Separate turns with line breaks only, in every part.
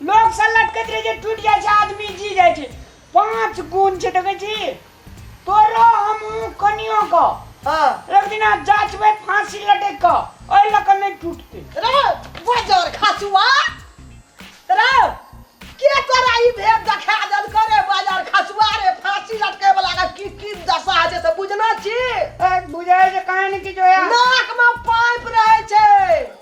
लोक से लटकैत रहे छै टूटि जाइ छै आदमी जी जाइ छै पांच गुण छै देखै छी तोरो हमहूँ कनियो क हाँ एक
दिना
जाचबै फांसी लटक क ओहि लऽ कऽ नहि टूटतै रे
बजर खसुआ रे के तोरा ई भेद देखा देल करे बजर खसुआ रे फांसी लटके वाला के की की दशा होइ छै से बुझना छी ए, बुझाइ
छै कहाँ ने किछु होया नाक में पाइप
रहे छै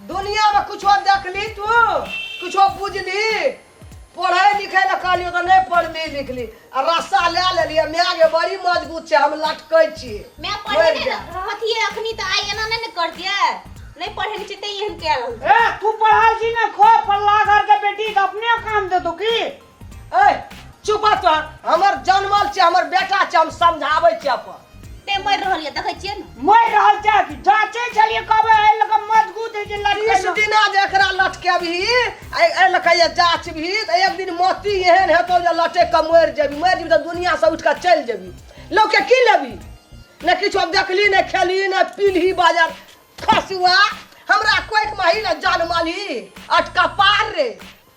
दुनिया में कुछो देखली तू कुछो बुझली पढ़े लिखे ला कहलियो तो नहीं पढ़ली लिखली आ रस्सा ले लेलिए मैं आगे बड़ी मजबूत छै हम लटकै छी मैं मरि पढ़े जा।
रहती है अखनी तो आई एना नहीं न कर दिया नहीं पढ़े नहीं चते यहन कह रहल ए तू पढ़ल
छी ना खो पल्ला घर के बेटी के अपने काम दे तू की ए
चुप तो हमर जनमल छै हमर बेटा छै हम समझाबै छै अपन ते मरि रहल ये
देखै छियै ने मरि रहल छै कि
जांचे छलिए कब ए लग मजगूत है जे तीस लटकल दिना जे एकरा
लटकेबही ए ए लऽ कहिए जाचबही तऽ एक दिन मोती एहन हेतौ जे लटकि कऽ मरि जेबही मरि जेबही तऽ दुनियासँ उठि कऽ चलि जेबही लोकके की लेबही ने किछो देखली ने खेली ने पीलही बाजार खसुआ हमरा कोइक माही ने जानमलही अटका पार रे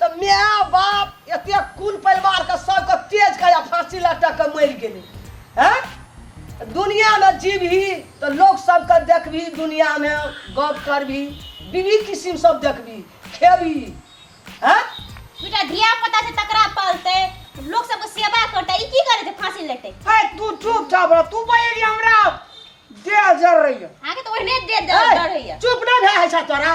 तँ माए-बाप एतेक कुल-परिवारकेँ सभकेँ तेज कए आ फाँसी लटकि कए मरि गेलै। ऐं! दुनियाँमे जीबही तँ लोक सभकेँ देखबही, दुनियाँमे गप्प करबही, विविध किसिम सभ देखबही, खेबही। ऐं! दूटा
धिया-पुता छै तकरा पालतै, लोक सभकेँ सेवा करतै आ ई की करै छै फाँसी लटकि कए। ऐं! तूँ चुपचाप
रह। तूँ बजलिही हमरा देह जरैए। अहाँकेँ तँ ओहिने देह
जरैए। ऐं! चुप नहि भए होइ छै
तोरा?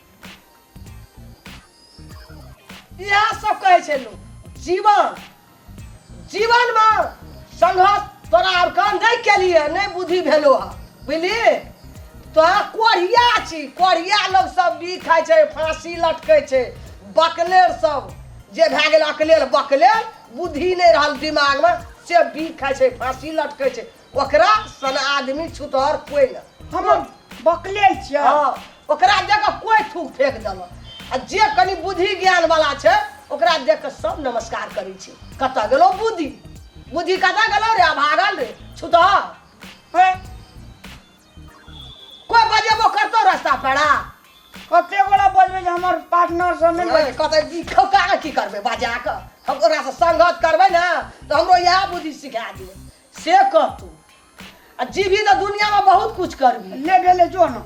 इएह सब कहै छै लोक जीवन जीवनमे संघर्ष तोरा आब काम नहि केलिए नहि बुद्धि भेलो हँ बुझली तोरा कोढ़िया छी कोढ़िया लोग सब भी खाइ छै फांसी लटकै छै बकलेर सब जे भए गेल अकलेल बकलेल बुद्धि नहि रहल दिमागमे से भी खाइ छै फांसी लटकै छै ओकरा सन आदमी छुतहर कोई ना हम
बकले छियै हाँ, ओकरा
देख के कोई थूक फेंक देल आ जे कनी बुद्धि ज्ञान वाला छै ओकरा देख के सब नमस्कार करै छै कतऽ गेलो बुद्धि बुद्धि कतऽ गेलो रे अभागल रे छुतहर हे, कोई बजेबो करतो रास्ता पेड़ा कते
गोला बजबै जे हमर पार्टनर सब नहि बजै कतऽ ई खौका
के की करबै बजा के हम ओकरा से संगत करबै ने तऽ हमरो इएह बुद्धि सिखा दिए से कह तू आ जीवी तो दुनिया में बहुत कुछ करबी ले भेले जो ना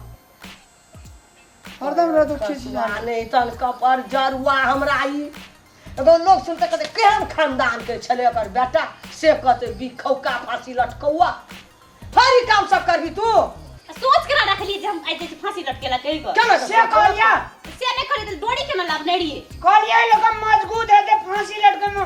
हरदम रह दो ठीक से जान माने तन कपर
जरुआ हमरा ई एगो लोग सुनते कहते केहन खानदान के छले ओकर बेटा से कहते बिखौका फांसी लटकौआ फरी काम सब करबी तू सोच के ना
रख ली जे हम आइ जे फांसी लटकेला कहि गो केना से कहलिया
से नहि करी तऽ
डोरी केना लाभ नहि रहिए कहलिया लोग
मजगूत
है ते
फांसी
लटके
में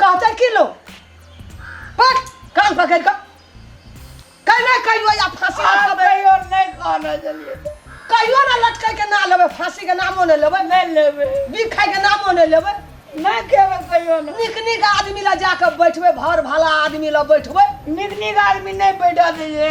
कहते की लो पर कान पकड़ कर कहीं ना कहीं वो या फांसी आप लटकबे कहियो नहीं कहना
चलिए कहियो ना
लटके के ना लेबे फांसी के नामो ना लेबे नहीं लेबे बिख
खाए के नामो
ना लेबे नहीं खेबे
कहियो ना निक निक आदमी ला
जाके बैठबे भर भला आदमी ला बैठबे निक निक आदमी
नहीं बैठा दीजिए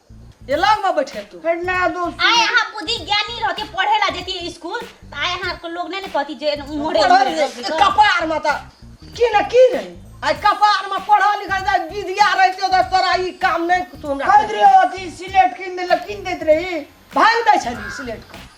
ये लग में बैठे तू फिर ना दोस्त आय
अहाँ बुद्धि ज्ञानी
रह के पढ़े ला जेती स्कूल त आय अहाँ के लोग नहीं ने कहती जे मोरे पढ़ल रे, कपार
में त की न की रे आ कपार में पढ़ल लिखल जाय विद्या रहते त तोरा ई काम नहीं तू हमरा खरीद रहे होती सिलेट
किन दे किन देत रही भांग दै छली
सिलेट के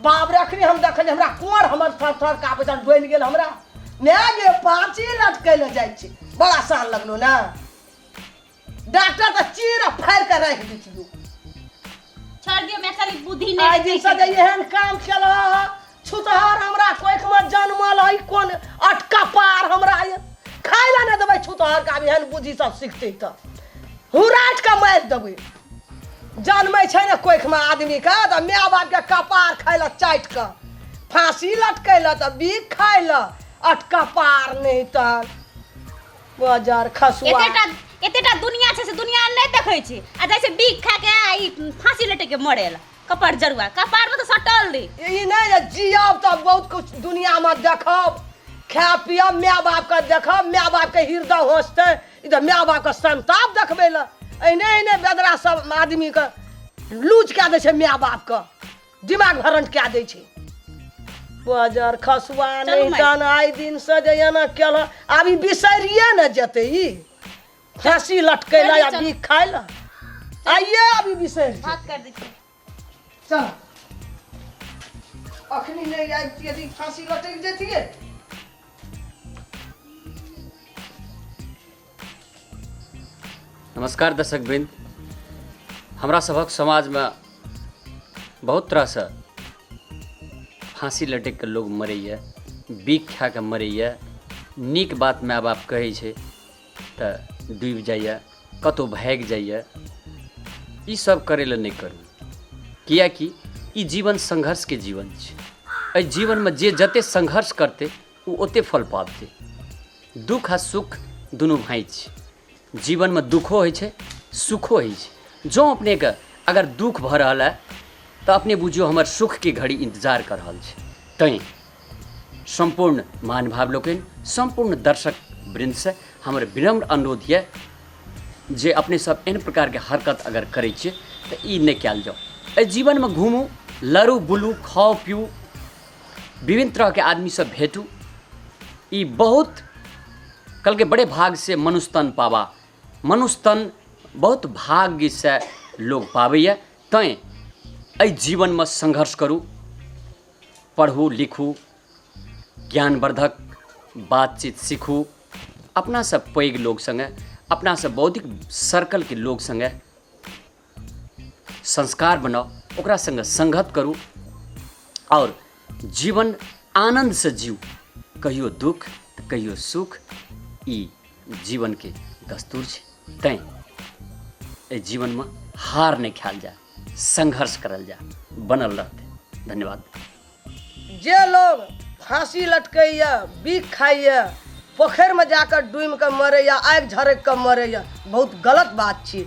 बाप रे अखनी हम देखलियै हमरा कुंवर हमर थर थर का पैसा डोलि गेल हमरा ने गे पाँची लटकै लए जाइ छै बड़ा सान लगलो ने डॉक्टर तऽ चीर फाड़ि कऽ राखि दै छियौ
छोड़ दियो मैं खाली बुद्धि आइ नहीं दिनसँ जे एहन
काम केल छुतहर हमरा कोखिमे जनमल है कोन अटका पार हमरा ये। खाय लए नहि देबै छुतहर का एहन बुद्धि सब सिखतै तऽ हुराट कऽ मारि देबै जनमै छै ने कोखिमे आदमीके तऽ माय बापके कपार खाय लए चाटि कऽ फाँसी लटकै लए तऽ बीख खाय लए अट कपार नहि तऽ बजर खसुआ एतेटा एतेटा
दुनिया छै से दुनिया नहि देखै छै आ जाइ छै बीख खा के आ ई फांसी लटक के मरे ला कपार जरुआ कपार में तो सटल रही ई नहि जे जियब
तऽ बहुत कुछ दुनियामे देखब खाय पियब माय बापके देखब माय बापके हृदय होसतै ई तऽ माय बापके संताप देखबै लए एहने एहने बेदरा सब आदमीके लूज कए दै छै माय बापके दिमाग भरंट कए दै छै बजर खसुआ चलू नहि माय। तन आइ दिन से जे एना केल आब ई बिसरिए ने जेतै ई फांसी लटकै चलू, लए आ चलू। बीख खाइ लए आइए आब ई बिसरि जेतै। भात कर दीजिए चल अखनी नहीं आबती यदि फांसी लटक जतिए
नमस्कार दर्शक वृंद हमरा सभक समाजमे बहुत तरहसँ फांसी लटकि कऽ लोक मरैए बीख खा कऽ मरैए नीक बात माय बाप कहै छै तऽ डूबि जाइए कतहु भागि जाइए ईसब करै लए नहि करू किएकि ई जीवन संघर्षके जीवन छै एहि जीवनमे जे जतेक संघर्ष करतै ओ ओतेक फल पाबतै दुख आ सुख दुनू भाइ छै जीवनमे दुखो होइ छै सुखो होइ छै जँ अपनेके अगर दुख भऽ रहल हए तऽ अपने बुझियौ हमर सुखके घड़ी इन्तजार कऽ रहल छै तैँ सम्पूर्ण महानुभाव लोकनि सम्पूर्ण दर्शक वृन्दसँ हमर विनम्र अनुरोध यए जे अपने सब एहन प्रकारके हरकत अगर करै छियै तऽ ई नहि कयल जाउ एहि जीवनमे घूमू लड़ू बुलू खाउ पीऊ विभिन्न तरहके आदमीसँ भेटू ई बहुत कहलकै बड़े भाग से मनुष्य तन पावा मनुष्य तन बहुत भाग्यसँ लोक पाबैए तैँ एहि जीवनमे संघर्ष करू पढ़ू लिखू ज्ञानवर्धक बातचीत सीखू अपनासँ पैघ लोक सङ्गे अपनासँ बौद्धिक सर्कलके लोक सङ्गे संस्कार बनाउ ओकरा सङ्गे सङ्गत करू आओर जीवन आनन्दसँ जीव कहियो दुख तऽ कहियो सुख ई जीवनके दस्तूर छै तैँ एहि जीवनमे हार नहि खायल जाय संघर्ष करल जा बनल रहते धन्यवाद जे
लोग फांसी लटकैया बीख खाइया पोखरि में जाकर डूम के मरैया आगि झरक के मरैया बहुत गलत बात छी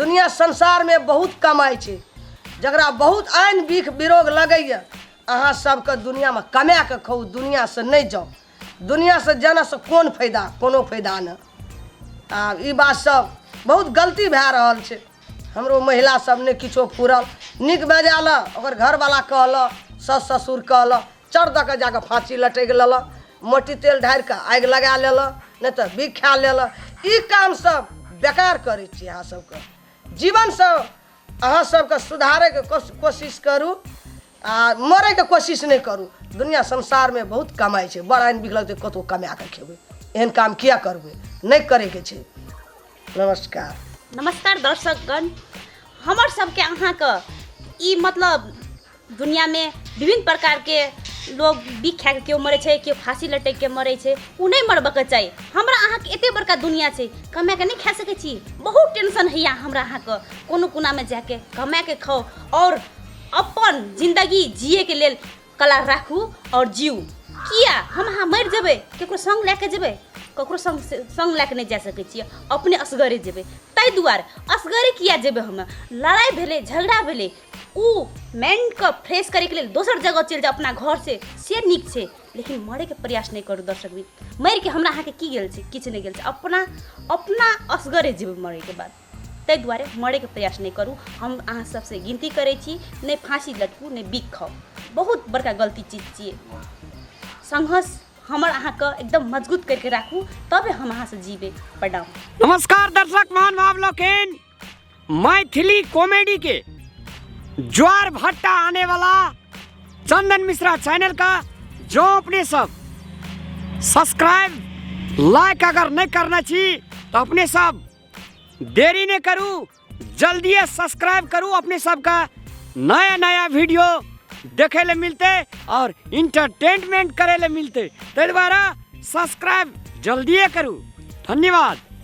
दुनिया संसार में बहुत कमाई छै जकरा बहुत आन बीख विरोग लगैया अहाँ सबके दुनिया में कमा के खाउ दुनिया से नहीं जाउ दुनियासँ जनसँ कोन फायदा कोनो फायदा नहि आ ई बात सब बहुत गलती भए रहल छै हमरो महिला सब ने किछो फूरल नीक बजाय लऽ ओकर घरवाला कहलक सास ससुर कहलक चर दऽ कऽ जाकऽ फाँसी लटकि लेलक मोटी तेल ढारि कऽ आगि लगा लेलक नहि तऽ बिख खा लेलक ई काम सब बेकार करै छी अहाँ सबके जीवनसँ अहाँ सबके सुधारैके कोश- कोशिश करू आ मरैके कोशिश नहि करू दुनिया संसारमे बहुत कमाइ छै बड़ आनि बिकलक तऽ कतहु कमा कऽ खेबै एहन काम किया करबै नहि करैके छै नमस्कार नमस्कार
दर्शकगण हमर सबके अहाँके ई मतलब दुनियामे विभिन्न प्रकारके लोग बिख खाके केओ मरै छै केओ फांसी लटकि के मरै छै ओ नहि मरबके चाही हमरा अहाँके एते बड़का दुनिया छै कमा के नहि खा सकै छी बहुत टेंशन होइया हमरा अहाँके कोनो कोनामे जाके कमा के खाउ आओर अपन जिंदगी जिए के लेल कला राखू और जीऊ किया हम अहाँ मरि जेबै केकरो संग लए के जेबै ककरो संग संग लए के नहि जा सकै छियै अपने असगरे जेबै ताहि दुआरे असगरे किया जेबै हम लड़ाई भेलै झगड़ा भेलै ओ माइंडके फ्रेश करैके लेल दोसर जगह चलि जाउ अपना घरसँ से नीक छै लेकिन मरैके प्रयास नहि करू दर्शक भी मरिके हमरा अहाँके की गेल छै किछु नहि गेल छै अपना अपना असगरे जेबै मरैके बाद ताहि दुआरे मरैके प्रयास नहि करू हम अहाँ सबसँ गिनती करै छी नहि फाँसी लटकू नहि बिख खाउ बहुत बड़का गलती चीज छियै संघर्ष हमर अहाँके एकदम मजबूत करके राखू तबे हम अहाँसँ जीबै प्रणाम नमस्कार दर्शक
महान भाव लोकेन मैथिली कॉमेडी के ज्वार भट्टा आने वाला चंदन मिश्रा चैनल का जो अपने सब सब्सक्राइब लाइक अगर नहीं करना चाहिए तो अपने सब देरी नहि करू जल्दिए सब्सक्राइब करू अपने सबका नया नया वीडियो देखे ले मिलते और इंटरटेनमेंट करे ले मिलते ताहि दुआरे सब्सक्राइब जल्दिए करू धन्यवाद